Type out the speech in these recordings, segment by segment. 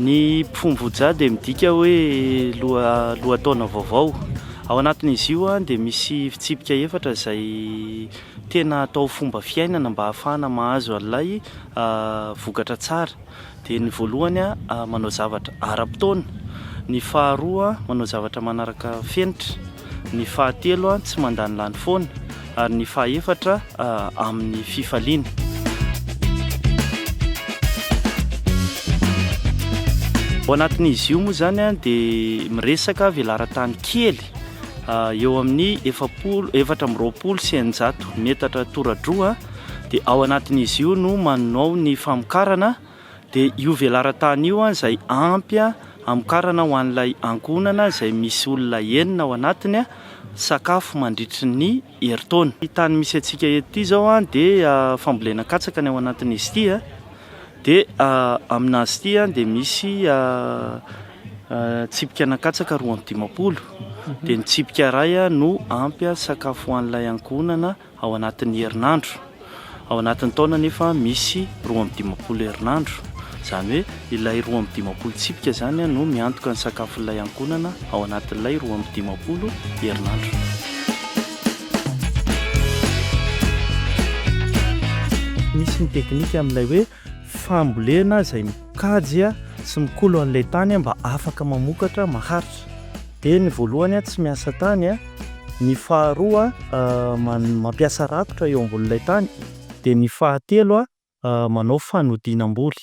Ny Pfumvuja dia midika hoe lohataona vaovao. Ao anatin'izy io dia misy fitsipika efatra izay tena atao fomba fiainana mba hahafahana mahazo an'ilay vokatra tsara. Dia ny voalohany manao zavatra ara-potoana, ny faharoa manao zavatra manaraka fenitra. ny fahatelo tsy mandanilany foana, ary ny fahaefatra amin'ny fifaliana. Ao anatin'izy io moa izany dia miresaka velaran-tany kely eo amin'ny efapolo efatra amby roapolo sy eninjato metatra tora-droa dia ao anatin'izy io no manao ny famokarana Dia io velaran-tany io izay ampy hamokarana ho an'ilay ankohonana izay misy olona enina ao anatiny sakafo mandritry ny herintaona. Ity tany misy antsika eto ity izao dia fambolena katsaka ny ao anatin'izy ity dia aminazy ity dia misy tsipikana katsaka roa amby dimampolo dia ny tsipika iray no ampy sakafo ho an'ilay ankohonana. ao anatin'ny herinandro. Ao anatin'ny taona anefa misy roa amby dimampolo herinandro, izany hoe ilay roa amby dimampolo tsipika izany no miantoka ny sakafon'ilay ankohonana ao anatin'ilay roa amby dimampolo herinandro. Misy ny teknika amin'ilay hoe fambolena izay mikajy sy mikolo an'ilay tany mba afaka mamokatra maharitra. Dia ny voalohany tsy miasa tany, ny faharoa mampiasa rakotra eo ambonin'ilay tany, dia ny fahatelo manao fanodinam-boly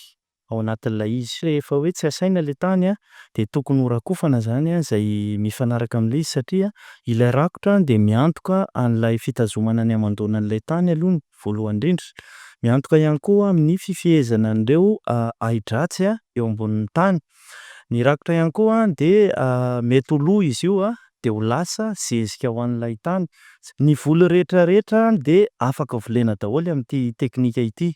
ao anatin'ilay izy. Rehefa hoe tsy asaina ilay tany dia tokony ho rakofana izany izay mifanaraka amin'ilay izy satria ilay rakotra dia miantoka an'ilay fitazomana ny hamandoana an'ilay tany aloha ny. voalohany indrindra. Miantoka ihany koa amin'ny fifehezana an'ireo ahi-dratsy eo ambonin'ny tany. Ny rakotra ihany koa dia mety ho lo izy io dia ho lasa zezika ho an'ilay tany. Ny voly rehetra rehetra dia afaka volena daholo amin'ity teknika ity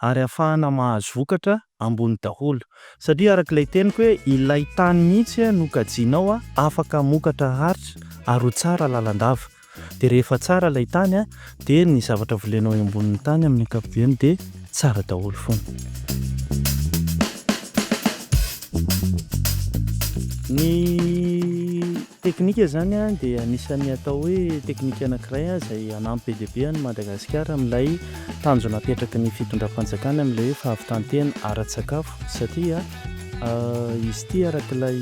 ary ahafahana mahazo vokatra ambony daholo. Satria araka ilay teniko hoe ilay tany mihitsy no kajiana ao afaka hamokatra haritra ary ho tsara lalandava. Dia rehefa tsara ilay tany an, dia ny zavatra volenao eo ambonin'ny tany amin'ny ankapobeny dia tsara daholo foana. Ny teknika izany an dia anisan'ny atao hoe teknika anankiray an izay hanampy be dia be an'i Madagasikara amin'ilay tanjona apetraky ny fitondram-panjakana amin'ilay hoe fahavitan-tena ara-tsakafo satria Izy ity araka ilay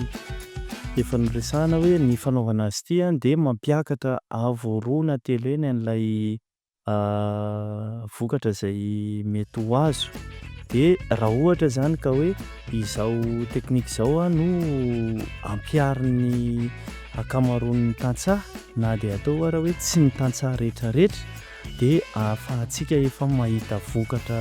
efa noresahana hoe ny fanaovana azy ity dia mampiakatra avo roa na telo eny an'ilay vokatra izay mety ho azo. Dia raha ohatra izany ka hoe izao teknika izao no ampiharin'ny ankamaroan'ny tantsaha na dia atao ary hoe tsy ny tantsaha rehetrarehetra dia ahafahantsika efa mahita vokatra